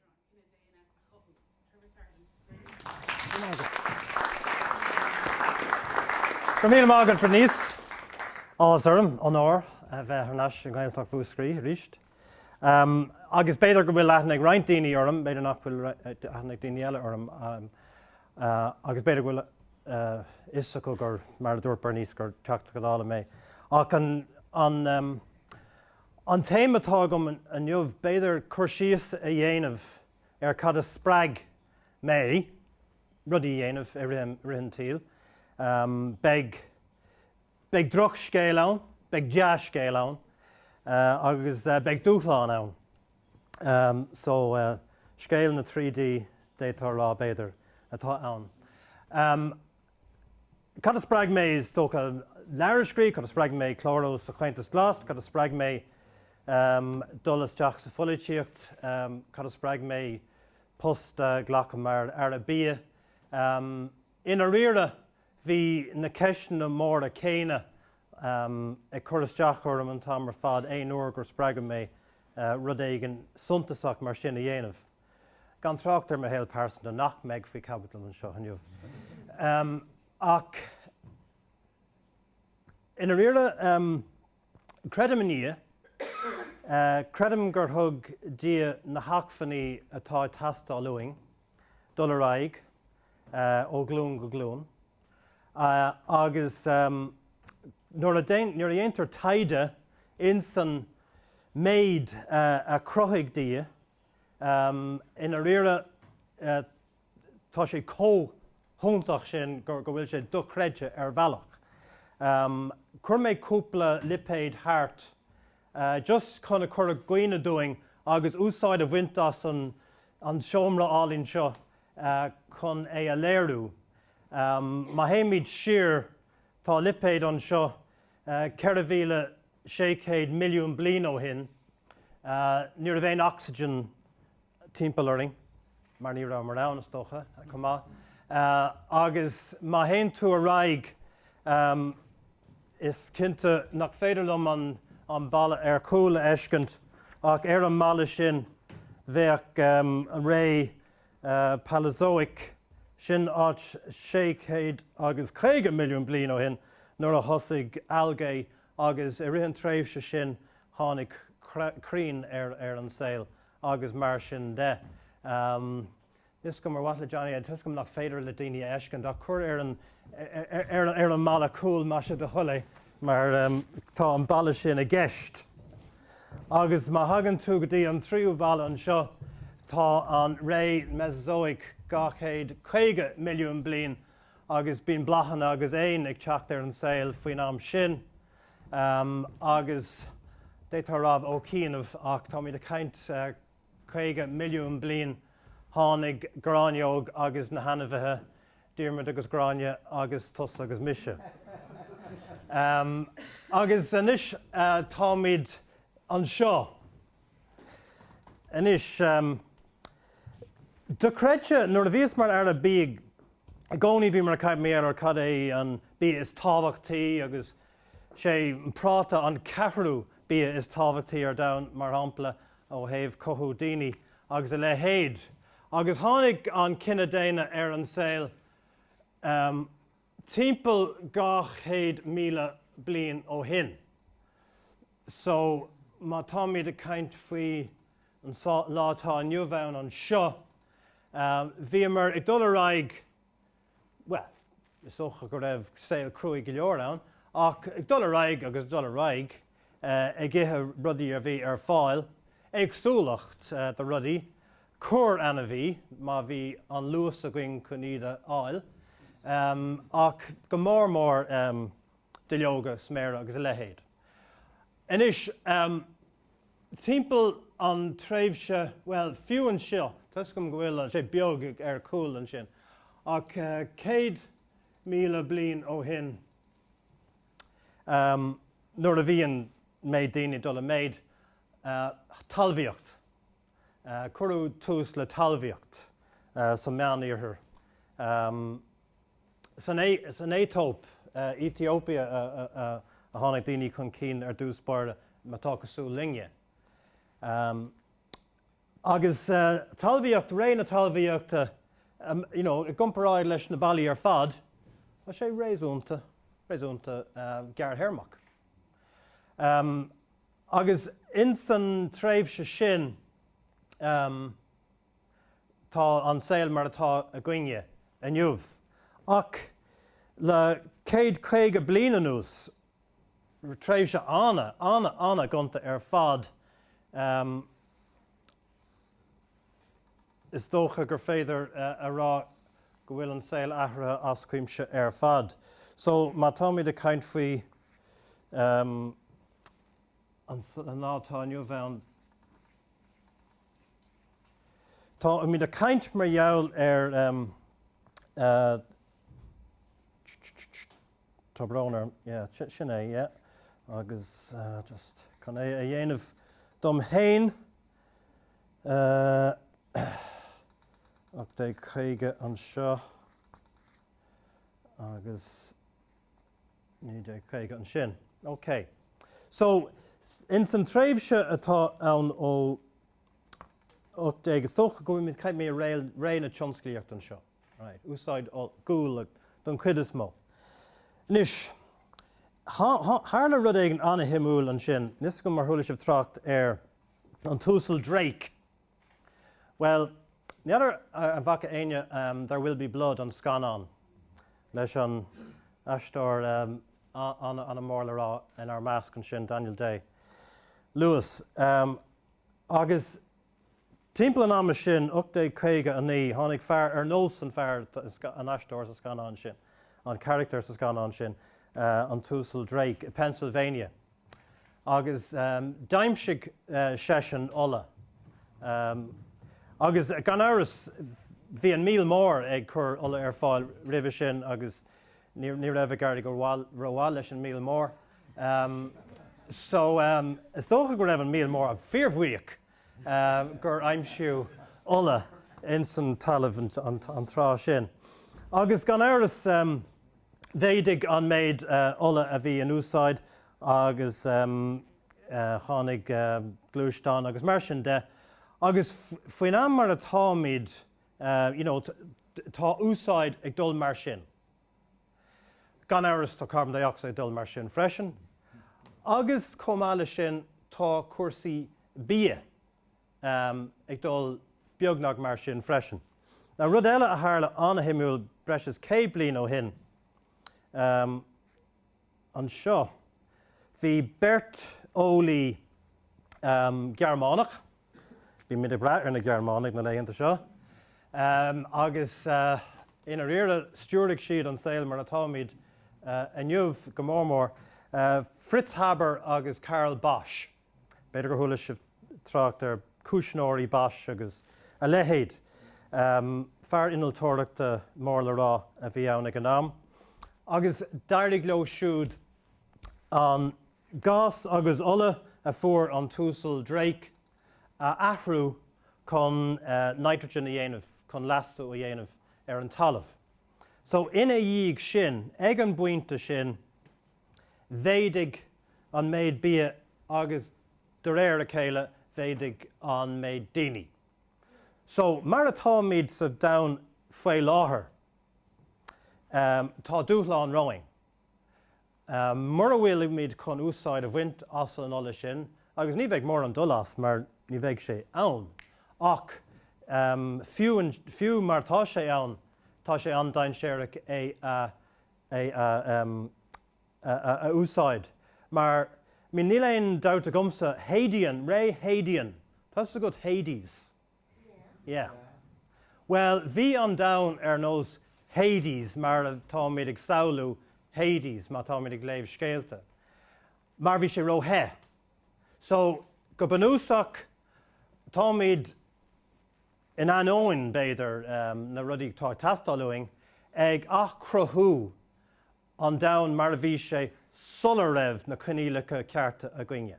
Conas is féidir an cine daonna a chothú? Trevor Sargent. Go raibh míle maith agat, Bernice. Áthas orm, onóir, a bheith thar n-ais i nGaeltacht Mhúscraí arís. Agus b'fhéidir go bhfuil aithne ag roinnt daoine orm, b'fhéidir nach bhfuil aithne ag daoine eile orm. Agus b'fhéidir go bhfuil a fhios acu gur, mar a dúirt Bernice, gur Teachta Dála mé. Ach an, An t-aidhm atá agam inniu, b'fhéidir, cur síos a dhéanamh ar cad a spreag mé rudaí a dhéanamh i rith an tsaoil. Beidh drochscéal ann, beidh dea-scéal ann agus beidh dúshlán ann. Só, scéal na dtrí D, d'fhéadfá a rá, b'fhéidir, atá ann. Cad a spreag mé? Is dócha leabhar a scríobh. Cad a spreag mé clárú sa Chomhaontas Glas? Cad a spreag mé dul isteach sa pholaitíocht? Cad a spreag mé post a ghlacadh mar Aire Bia? I ndáiríre, bhí na ceisteanna móra céanna ag cur isteach orm an t-am ar fad aon uair gur spreagadh mé rud éigin suntasach mar sin a dhéanamh. Gan trácht ar mo shaol pearsanta nach mbeidh faoi chaibidil anseo inniu. Ach i ndáiríre, creidim i nDia, creidim gur thug Dia na hacmhainní atá ag teastáil uainn dul ar aghaidh ó ghlúin go glúin agus nuair a dhéantar taighde insan méid a chruthaigh Dia, I ndáiríre, tá sé chomh hiontach sin go bhfuil sé dochreidte ar bhealach. Chuir mé cúpla lipéid thart just chun a chur i gcuimhne dúinn agus úsáid a bhaint as an seomra álainn seo chun é a léiriú. Má théimid siar, tá lipéid anseo 4,600 milliún bliain ó shin. Ní raibh aon oxygen timpeall orainn, mar ní rabhamar ann, is dócha, chomh maith. Agus má théann tú ar aghaidh, is cinnte nach féidir liom an balla ar chúl a fheiscint, ach ar an mballa sin, bheadh an ré Paleozoic, sin áit 650 milliún bliain ó shin, nuair a thosaigh algae Agus i rith an tréimhse sin tháinig crainn ar an saol agus mar sin de. Is cuma, ar mhaith le Johnny, toisc nach féidir le daoine a fheiscint ach cuir ar an mballa cúil, más é do thoil é, mar tá an balla sin i gceist. Agus má thagann tú go dtí an tríú balla anseo tá an ré Mesozoic 250 milliún bliain agus bíonn bláthanna agus éin ag teacht ar an saol faoin am sin agus d'fhéadfá a rádh ó chianaibh ach táimid ag caint 50 milliún bliain tháinig gráinneog agus na hainmhithe, Diarmuid agus Gráinne agus tusa agus mise. Agus anois táimid anseo. Anois, do chreidte, nuair a bhíos mar Aire Bídh i gcónaí bhíomar ag caint ar cad é an bia is tábhachtaí agus sé an práta an ceathrú bia is tábhachtaí ar domhan, mar shampla, ó thaobh cothú daoine agus a leithéid. Agus tháinig an cine daonna ar an saol timpeall 200,000 bliain ó shin. So, má táimid ag caint faoi an lá atá inniu ann anseo, bhíomar ag dul ar aghaidh, bhuel, is dócha go raibh saol cruaidh go leor ann, ach ag dul ar aghaidh agus ag dul ar aghaidh. ag ithe rudaí a bhí ar fáil, éagsúlacht de rudaí, corr ainmhí má bhí an luas againn chun iad a fháil, ach go mór mór duilleoga, sméara agus a leithéid. Anois, timpeall an tréimhse, bhuel, fiú anseo, toisc go bhfuil sé beag ar chúl ansin, ach céad míle bliain ó shin, nuair a bhí an méid daoine ag dul i méid. Talmhaíocht, Cuireadh tús le talmhaíocht sa Mheánoirthear, san Aetóip, Ethiopia, a tháinig daoine chun cinn ar dtús báire, má tá cosúil linne. Agus talmhaíocht, ré na talmhaíochta, you know, i gcomparáid leis na ballaí ar fad, tá sé réasúnta, réasúnta gearrthéarmach. Agus ins an tréimhse sin, tá an saol mar atá againne inniu. Ach le céad caoga bliain anuas, tréimhse ana, ana, ana gonta ar fad. Is dócha gur féidir a rá go bhfuil an saol athraithe as cuimse ar fad. So, má táimid ag caint faoi an lá atá inniu ann, táimid ag caint mar gheall ar Tá brón orm, yeah, sin é, yeah. Agus just chun é a dhéanamh dom féin, 1850 anseo agus 1950 ansin. OK. So, ins an tréimhse atá ann ó 1830 go bhfuil mé, chaith mé ré na tionsclaíochta anseo. Right, úsáid guail don chuid is mó. Anois, tharla rud éigin an-shuimiúil ansin. Níl 'fhios agam ar chuala sibh trácht ar an tUasal Drake. Bhuel, ní fheadar an bhfaca éinne There Will Be Blood, an scannán leis an aisteoir an-mhór le rá inár measc ansin, Daniel Day Lewis. Agus Timpeall an ama sin, 1859, tháinig fear ar nós an fear, an aisteoir sa scannán sin, an carachtar sa scannán sin, an tUasal Drake, i bPennsylvania agus d'aimsigh seisean ola. Agus gan amhras, bhí an míol mór ag cur ola ar fáil roimhe sin agus ní raibh ag éirí rómhaith leis an míol mór. Um, so, um, is dócha go raibh an míol mór fíorbhuíoch um, gur aimsíodh ola ins an talamh an, an, an tráth sin. Agus gan amhras um, mhéadaigh an méid uh, ola a bhí in úsáid agus um, uh, tháinig uh, gluaisteáin agus mar sin de. Agus faoin am mar atáimid, uh, you know, tá úsáid ag dul mar sin. Gan amhras tá carbon dioxide ag dul mar sin freisin. Agus chomh maith leis sin tá cúrsaí bia ag dul beagnach mar sin freisin. Now rud eile a tharla an-shuimiúil breis is céad bliain ó shin anseo, bhí beirt eolaí Gearmánach, Bímid ag brath ar na Gearmánaigh na laethanta seo agus i ndáiríre stiúraigh siad an saol mar atáimid inniu, go mór mór Fritz Haber agus Carl Bosch. B'fhéidir gur chuala sibh trácht ar cuisneoirí Bosch agus a leithéid. Fear innealtóireachta mór le rá a bhí ann ag an am agus d'éirigh leo siúd an. gás agus ola a fuair an tUasal Drake a athrú chun nitrogen a dhéanamh, chun leasú a dhéanamh ar an talamh. So ina dhiaidh sin, ag an bpointe sin, mhéadaigh an méid bia agus de réir a chéile mhéadaigh an méid daoine. So mar atáimid sa domhan faoi láthair, tá dúshlán romhaibh. Mura bhfuilimid chun úsáid a bhaint as an ola sin, agus ní bheidh mórán dul as mar ní bheidh sé ann, ach fiú mar tá sé ann, tá sé an-dainséarach é a úsáid mar níl aon dabht agamsa, Hadean, Ré Hadean, tá's agat Hades? Yeah. Bhuel, bhí an domhan ar nós Hades, mar atáimid ag samhlú Hades má táimid ag léamh scéalta, mar bhí sé ró-the. So, go bunúsach, táimid, in ainneoin, b'fhéidir, na rudaí atá ag teastáil uainn, ag athchruthú an domhain mar a bhí sé sula raibh na coinníollacha cearta againn.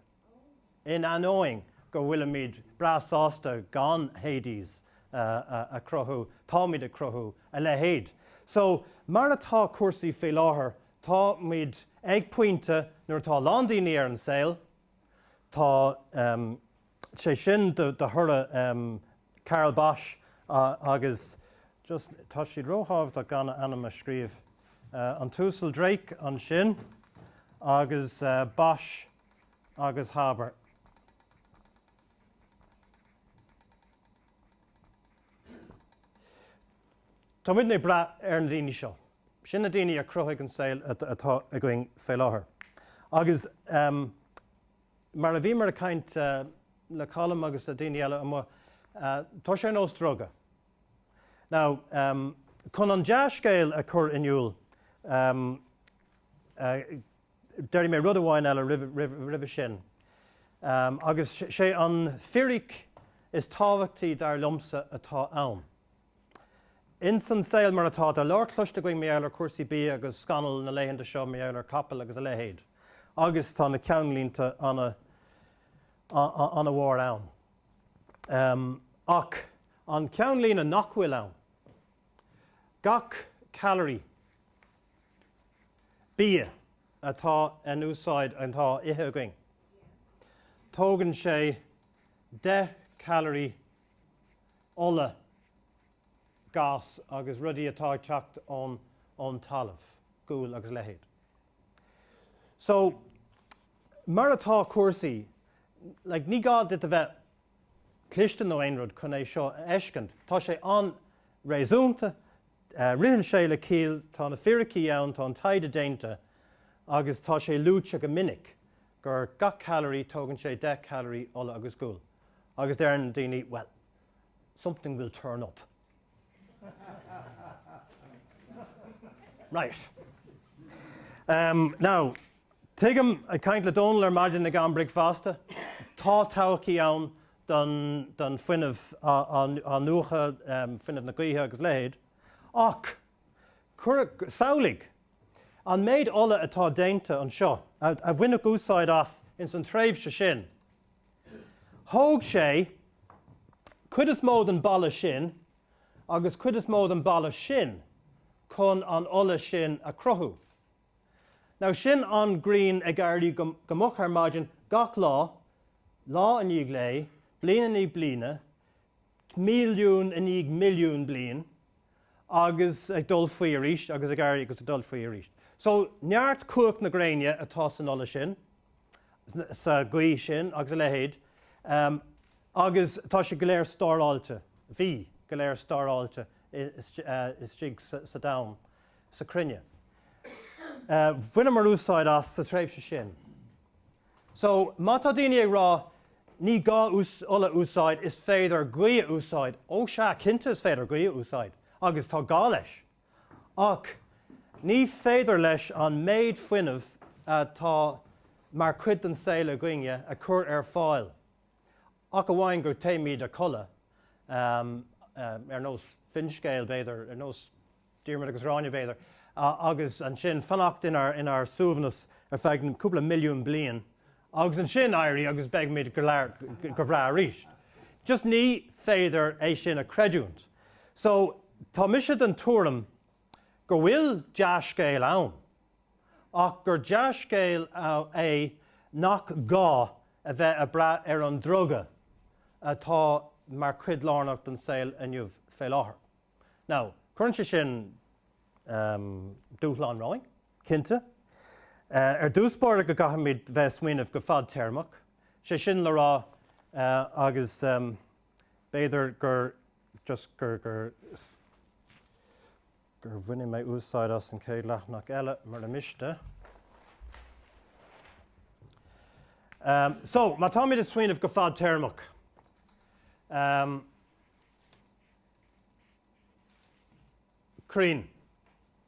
In ainneoin go bhfuilimid breá sásta gan Hades a chruthú, táimid ag cruthú a leithéid. So, mar atá cúrsaí faoi láthair, táimid ag pointe nuair atá a lán daoine ar an saol, tá, sé sin de thoradh Carl Bosch agus just tá siad róthábhachtach gan a n-ainm a scríobh An tUasal Drake ansin agus Bosch agus Haber. Tá muidne ag brath ar na daoine seo. Sin na daoine a chruthaigh an saol atá againn fé láthair. Agus. Mar a bhíomar ag caint le Colm agus le daoine eile amuigh, tá sé ar nós druga. Now, chun an dea-scéal a chur in iúl, déarfaidh mé rud amháin eile roimhe sin, agus sé an firic is tábhachtaí dar liomsa atá ann. Ins an saol mar atá, tá leor cloiste againn mar gheall ar chúrsaí bia agus scannal na laethanta seo mar gheall ar chapaill agus a leithéid, agus tá na ceannlínte ana mhór ann. Ach an ceannlíne nach bhfuil ann, gach calorie, bia, atá in úsáid, atá á ithe againn, tógann sé deich calorie, ola, gás agus rudaí atá teacht ón talamh, gual agus a leithéid. So, mar atá cúrsaí, like, ní gá duit a bheith cliste nó aon rud chun é seo a fheiscint. Tá sé an-réasúnta, ritheann sé le ciall, tá na fíricí ann, tá an taighde déanta agus tá sé luaite go minic gur gach calorie, tógann sé deich calorie ola agus gual, agus deireann na daoine, well, something will turn up. Right. Um, now, tuigim, ag caint le Dónall ar maidin ag am bricfeasta, tá todhchaí ann don, don fuinneamh in-athnuachana, um, fuinneamh na gaoithe agus leithéid, ach samhlaigh, An méid ola atá déanta anseo, a baineadh úsáid as ins an tréimhse sin, thóg sé cuid is mó den balla sin agus cuid is mó den balla sin chun an ola sin a chruthú. Now sin an ghrian ag éirí go moch ar maidin gach lá, lá i ndiaidh lae, bliain i ndiaidh bliana, milliún i ndiaidh milliún bliain, agus ag dul faoi arís agus ag éirí agus ag dul faoi arís. So, neart cumhacht na gréine atá san ola sin, sa ghaoth sin agus a leithéid, em, agus tá sé go léir stóráilte, bhí go léir stóráilte istigh sa domhan, sa chruinne. Eh, bhaineamar úsáid as sa tréimhse sin. So, má tá daoine ag rá ní gá ola a úsáid, is féidir gaoth a úsáid, ó sea, cinnte is féidir gaoth a úsáid agus tá gá leis, ach ní féidir leis an méid fuinnimh atá mar chuid den saol againne a chur ar fáil ach amháin dá dtéimis a chodladh, ar nós finscéil, b'fhéidir, ar nós. Diarmaid agus Gráinne, b'fhéidir, agus ansin fanacht inár suaimhneas ar feadh cúpla milliún bliain agus ansin éirí agus beidhmid go breá arís. Just ní féidir é sin a chreidiúint. So, tá mise den tuairim go bhfuil dea-scéal ann ach gur dea-scéal é nach gá a bheith ag brath ar an druga atá mar chuid lárnach den saol inniu fé láthair. Now, cuireann sé sin dúshlán romhainn, cinnte. Ar dtús báire go gcaithfimid bheith ag smaoineamh go fadtéarmach, sé sin le rá, agus b'fhéidir just go go go mbainfidh mé úsáid as an chéad leathanach eile mura miste. So, má táimid ag smaoineamh go fadtéarmach, crainn,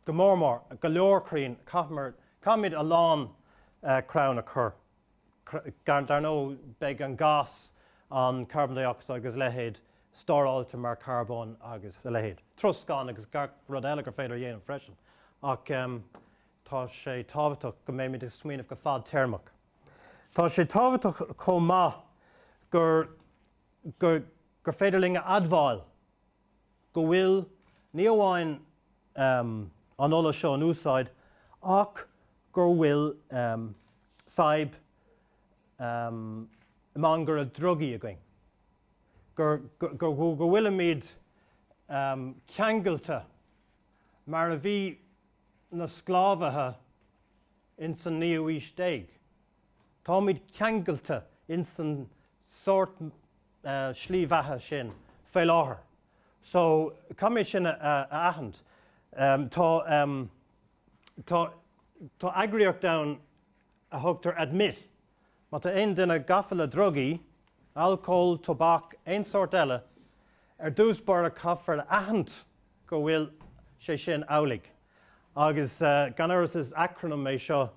go mór mór, go leor crainn, caithfimid a lán crann a chur, dar ndóigh beidh an gas, an carbon dioxide agus a leithéid stóráilte mar charbón agus a leithéid, troscán agus gach rud eile gur féidir a dhéanamh freisin ach tá sé tábhachtach go mbeimid ag smaoineamh go fadtéarmach. Tá sé tábhachtach chomh maith gur. gur féidir linn a admháil go bhfuil ní amháin an ola seo in úsáid ach gur bhfuil fadhb mangaire drugaí againn, go bhfuilimid ceangailte mar a bhí na sclábhaithe ins an naoú aois déag. Táimid ceangailte ins an sórt slí bheatha sin fé láthair so caithfimid sin a aithint. Tá eagraíocht ann a thugtar Admit. Má tá aon duine gafa le drugaí, alcól, tobac, aon sórt eile, ar dtús báire caithfear a aithint go bhfuil sé sin amhlaidh. Agus gan amhras is acronym é seo,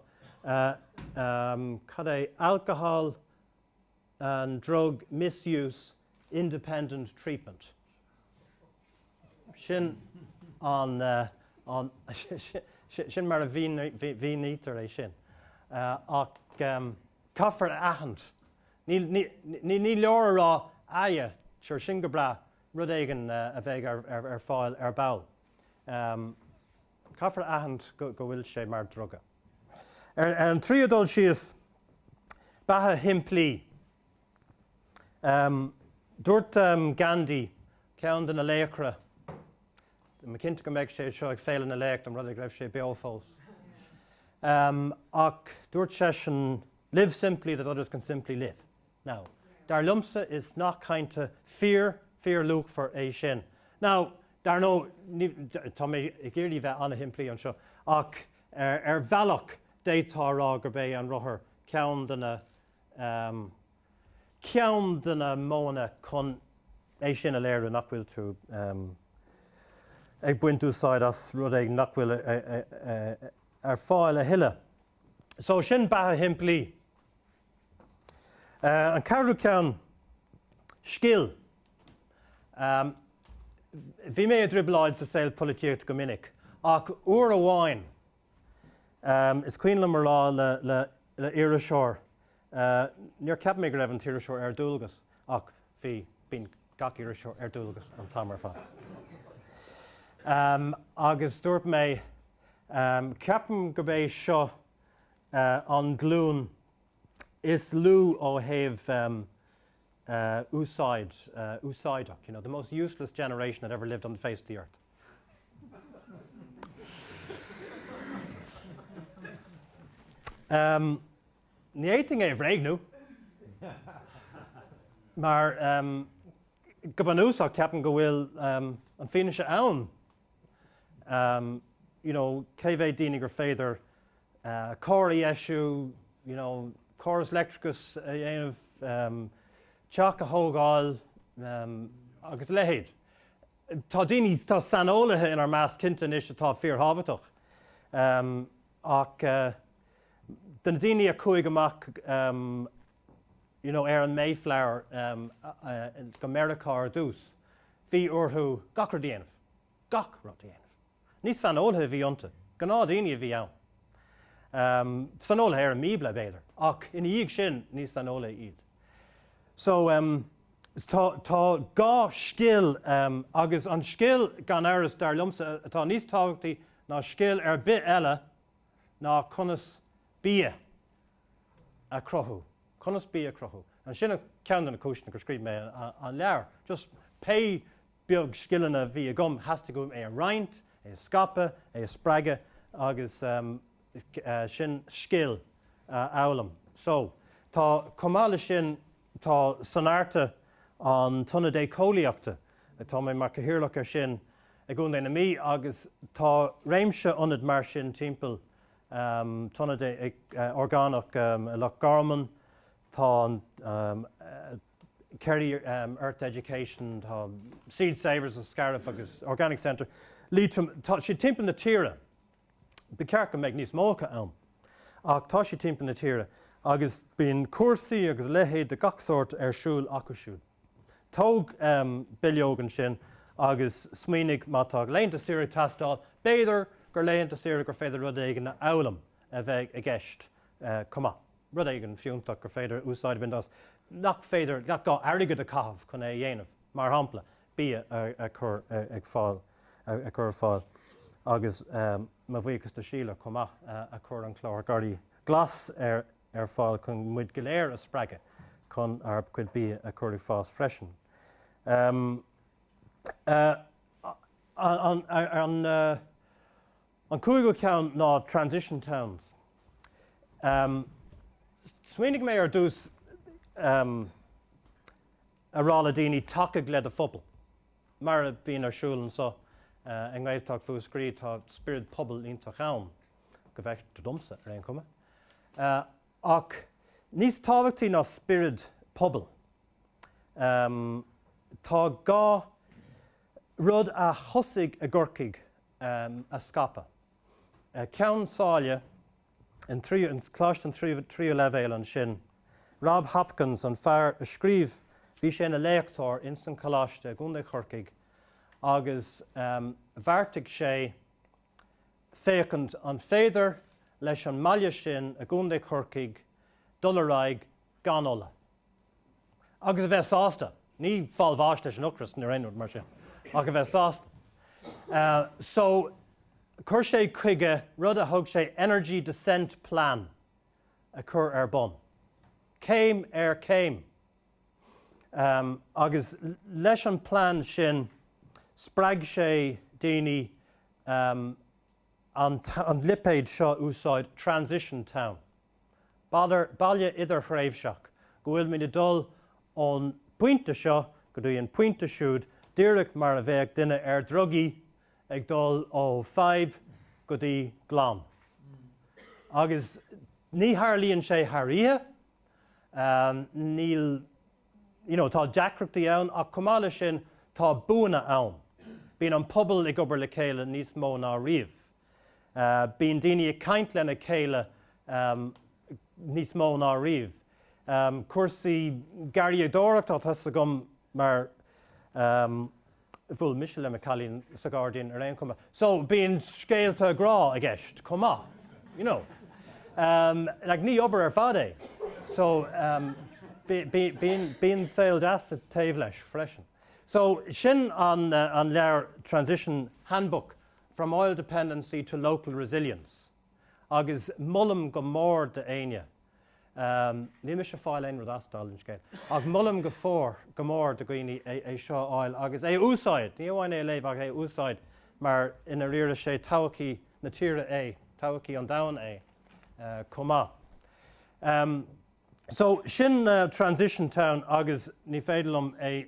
cad é, Alcohol and Drug Misuse Independent Treatment. Sin an, sin mar a mhínítear é sin. Ach caithfear a aithint, ní leor a rá, aye, sure, sin go breá, rud éigin a bheidh ar fáil ar ball. Caithfear a aithint go bhfuil sé mar dhruga. Ar an tríú dul síos, beatha shimplí. Dúirt Gandhi, ceann de na laochra, má, cinnte go mbeadh sé seo ag Féile na Laoch, dá mba rud é go raibh sé beo fós, ach dúirt seisean, 'Live simply that others can simply live. Now, dar liomsa is nath cainte fíorluachmhar é sin. Now, dar ndóigh, tá mé ag iarraidh bheith an-shimplí anseo, ach ar bhealach d'fhéadfá a rá gurb é an rothar ceann de na modhanna chun é sin a léiriú, nach bhfuil tú ag baint úsáid as rud éigin nach bhfuil ar fáil a thuilleadh. So sin beatha shimplí. An ceathrú ceann, scil. Bhí mé i dtrioblóid sa saol polaitíocht go minic, ach uair amháin, is cuimhin liom a rá le iriseoir Níor cheap mé go raibh an t-iriseoir ar dualgas, ach bhí, bíonn gach iriseoir ar dualgas an t-am ar fad. Agus dúirt mé, Ceapaim gurb é seo an glúin is lú ó thaobh úsáideach, you know, the most useless generation that ever lived on the face of the earth. Ní fhéadfainn é a bhréagnú. Mar, go bunúsach, ceapaim go bhfuil an fhianaise ann, you know, cé mhéad daoine gur féidir carr a dheisiú, you know, córas leictreachais a dhéanamh, teach a thógáil agus a leithéid. Tá daoine, tá saineolaithe inár measc cinnte anois atá fíorthábhachtach. Ach de na daoine a chuaigh amach you know ar an Mayflower go Meiriceá ar dtús, bhí orthu gach rud a dhéanamh, gach rud a dhéanamh. Ní saineolaithe a bhí iontu, gnáthdaoine a bhí ann. Saineolaithe ar an mBíobla, b'fhéidir, ach ina dhiaidh sin, ní saineolaithe iad. So tá gá le scil agus an scil, gan amhras, dar liomsa, atá níos tábhachtaí ná scil ar bith eile ná conas bia a cruthú. Conas bia a cruthú. And sin ceann de na cúiseanna gur scríobh mé an leabhar. Just pé beag scileanna a bhí agam, theastaigh uaim é a roinnt, é a scaipeadh, é a spreagadh agus sin scil a fhoghlaim. So, tá, chomh maith leis sin, Tá Sonairte, an t-ionad éiceolaíochta, tá mé mar Cathaoirleach ar sin, i gContae na Mí agus tá réimse ionad mar sin timpeall, tá ionad orgánach i Loch Garman, tá an Kerry Earth Education, tá Seed Savers sa Scairbh agus Organic Centre, Liatroim, tá siad timpeall na tíre. Ba cheart go mbeadh níos mó acu ann. Ach tá siad timpeall na tíre agus bíonn cúrsaí agus a leithéid de gach sórt ar siúl acu siúd. Tóg bileog ansin agus smaoinigh, má tá laethanta saoire ag teastáil, b'fhéidir gur laethanta saoire gur féidir rud éigin a fhoghlaim a bheith i gceist chomh maith, rud éigin fiúntach gur féidir úsáid a bhaint as nach féidir, nach gá airgead a chaitheamh chun é a dhéanamh, mar shampla, bia a chur ag fáil a chur ar fáil agus mo bhuíochas do Shíle chomh maith a chuir an clár Garraí Glas ar ar fáil chun muid go léir a spreagadh chun ár chuid bia a chur ag fás freisin. An cúigiú ceann ná Transition Towns. Smaoinigh mé ar dtús a rá le daoine 'tacaigh le do phobal'. Mar a bhíonn ar siúl anseo i nGaeltacht Mhúscraí tá spiorad pobail iontach ann, go bhfeictear domsa ar aon chuma. Ach níos tábhachtaí ná spiorad pobail tá gá rud a thosaigh i gCorcaigh a scaipeadh. Ceann Sáile. in Coláiste an Tríú Leibhéal ansin. Rob Hopkins, an fear a scríobh, bhí sé ina léachtóir ins an Choláiste i gContae Chorcaigh agus bheartaigh sé féachaint an féidir leis an mbaile sin i gContae Chorcaigh dul ar aghaidh gan ola. agus a bheith sásta, ní fáil bháis leis an ocras nó aon rud mar sin, ach a bheith sásta. So chuir sé chuige rud a thug sé Energy Descent Plan a chur ar bun, céim ar chéim. Agus leis an bplean sin spreag sé daoine an lipéad seo a úsáid, Transition Town. Baile idirthréimhseach go bhfuil muid ag dul ón bpointe seo go dtí an pointe siúd díreach mar a bheadh duine ar dhrugaí ag dul ó fadhb go dtí glan. Agus ní tharlaíonn sé thar oíche, níl, you know, tá deacrachtaí ann ach chomh maith leis sin tá buanna ann. Bíonn an pobal ag obair le chéile níos mó ná riamh. Bíonn daoine ag caint lena chéile níos mó ná riamh. Cúrsaí garraíodóireachta atá agam mar bhuail mise le mo chailín sa ghairdín ar aon chuma. So, bíonn scéalta grá i gceist chomh maith, you know. Like, ní obair ar fad é. So, bíonn saol deas taobh leis freisin. So, sin an leabhar Transition Handbook From oil dependency to local resilience agus molaim go mór do éinne, níl mise ag fáil aon rud as, dála an scéil, ach molaim go fóir, go mór do dhaoine é seo a fháil agus é a úsáid, ní amháin é a léamh ach é a úsáid mar i ndáiríre 'sé todhchaí na tíre é, todhchaí an domhain é chomh maith. So, sin Transition Town agus ní féidir liom é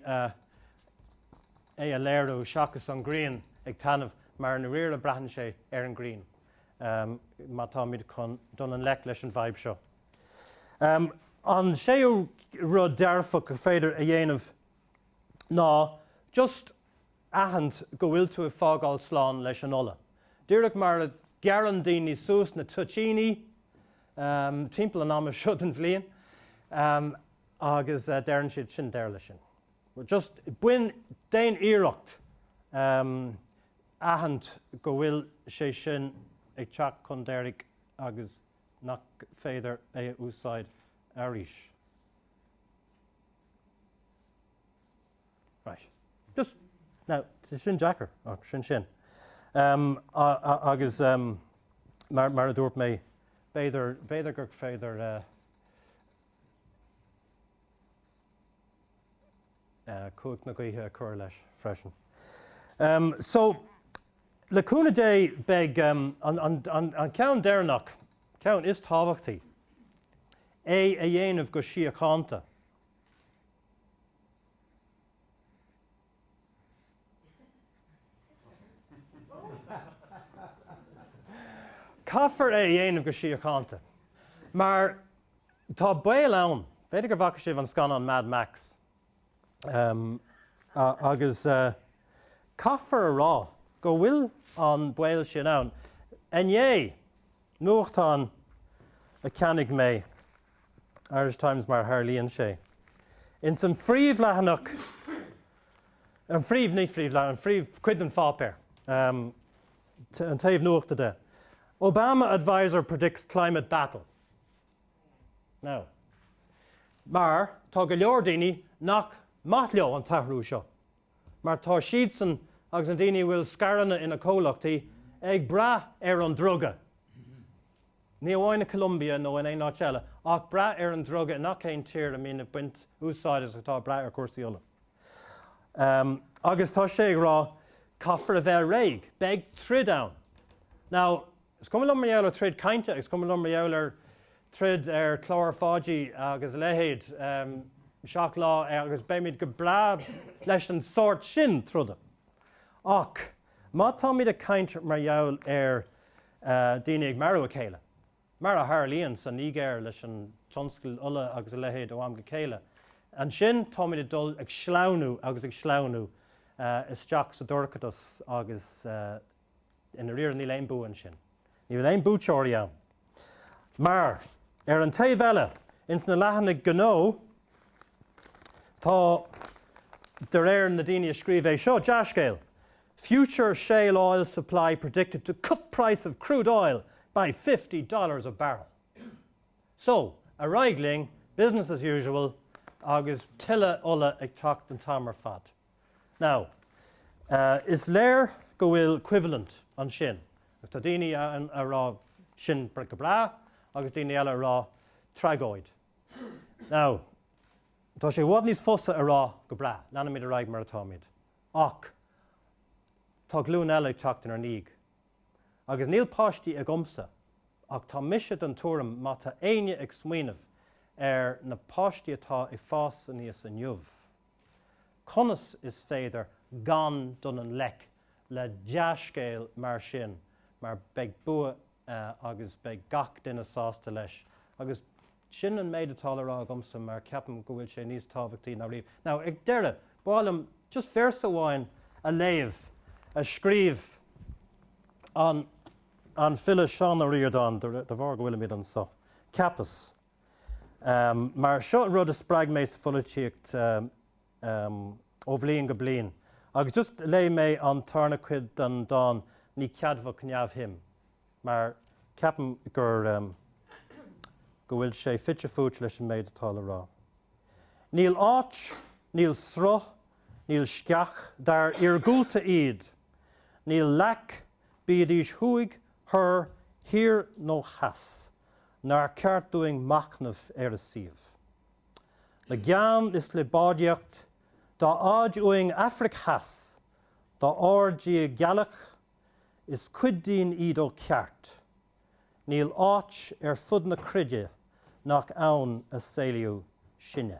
a léiriú seachas an ghrian ag taitneamh mar i ndáiríre braitheann sé ar an ngrian má táimid chun dul i ngleic leis an bhfadhb seo. An séú rud dearfach gur féidir a dhéanamh ná just aithint go bhfuil tú ag fágáil slán leis an ola. Díreach mar a ghearrann daoine suas na toitíní timpeall an ama seo den bhliain agus deireann siad, sin deireadh leis sin. Just bain, déan iarracht aithint go bhfuil sé sin ag teacht chun deiridh agus nach féidir é a úsáid arís. Right. Just, now, sin deacair, ach sin sin. Um, agus um, mar, mar a dúirt mé, b'fhéidir, b'fhéidir gur féidir uh, uh, cumhacht na gaoithe a chur leis freisin. Um, so, le cúnamh Dé beidh um, an, an, an, an ceann deireanach, ceann is tábhachtaí, é a dhéanamh go síochánta. Caithfear é a dhéanamh go síochánta, mar tá baol ann, b'fhéidir go bhfaca sibh an scannán Mad Max, agus caithfear a rá go bhfuil an baol sin ann. Inné, nuachtán a cheannaigh mé. Irish Times mar a tharlaíonn sé. Ins an phríomhleathanach, an phríomh, ní phríomhleathanach, an phríomhchuid den pháipéar, an taobh nuachta de, Obama adviser predicts climate battle. Now, mar tá go leor daoine nach maith leo an t-athrú seo, mar tá siadsan agus na daoine a bhfuil scaireanna ina gcomhlachtaí ag brath ar an druga, ní amháin i gColombia nó in aon áit eile, ach brath ar an druga i ngach aon tír a mbíonn ag baint úsáid as atá ag brath ar chúrsaí ola. Agus tá sé ag rá, caithfear a bheith réidh, beidh troid ann. Now, Is cuma liom mar gheall ar throid cainte agus is cuma liom mar gheall ar throid ar chlár Pháidí agus a leithéid, Seacht Lá agus beimid go breá leis an sórt sin troda. Ach má táimid ag caint mar gheall ar daoine ag marú a chéile, mar a tharlaíonn sa Nigéir leis an tionscal ola agus a leithéid ó am go chéile, ansin táimid ag dul ag sleamhnú agus ag sleamhnú isteach sa dorchadas agus, I ndairíre níl aon bua ansin. Níl aon buaiteoirí ann. Mar, ar an taobh eile, ins na leathanaigh gnó, tá, de réir na daoine a scríobh é seo, dea-scéal, Future shale oil supply predicted to cut price of crude oil by fifty dollars a barrel. So, ar aghaidh linn, business as usual, agus tuilleadh ola ag teacht an t-am ar fad. Now, is léir go bhfuil coimhlint ansin. Tá daoine ag rá sin go breá agus daoine eile ag rá tragóid. Now, tá sé i bhfad níos fusa a rá go breá, leanfaimid ar aghaidh mar atáimid. Ach tá glúin eile ag teacht inár ndiaidh. Agus níl páistí agamsa ach tá mise den tuairim má tá éinne ag smaoineamh ar na páistí atá ag fás aníos inniu, Conas is féidir gan dul i ngleic le dea-scéal mar sin mar beidh bua agus beidh gach duine sásta leis agus sin an méid atá le rá agamsa mar ceapaim go bhfuil sé níos tábhachtaí ná riamh. Now ag deireadh, b'áil liom just véarsa amháin a léamh a scríobh an file Seán Ó Ríordáin, de bharr go bhfuilimid anseo, ceapas. Mar seo rud a spreag mé sa pholaitíocht ó bhliain go bliain agus just léifidh mé an tarna cuid den dán Ní Ceadmhach Neamhshuim mar ceapaim gur go bhfuil sé fite fuaite leis an méid atá le rá. Níl áit, níl sruth, níl sceach, dá iargúlta iad, níl leac, bídís thuaidh, thoir, thiar nó theas, nár cheart dúinn machnamh ar a suíomh? Le gean is le báidhíocht, dá fhaid uainn Afraic Theas, dá airde í gealach, is cuid dínn iad ó cheart. Níl áit ar fud na cruinne nach ann a saolaíodh sinne.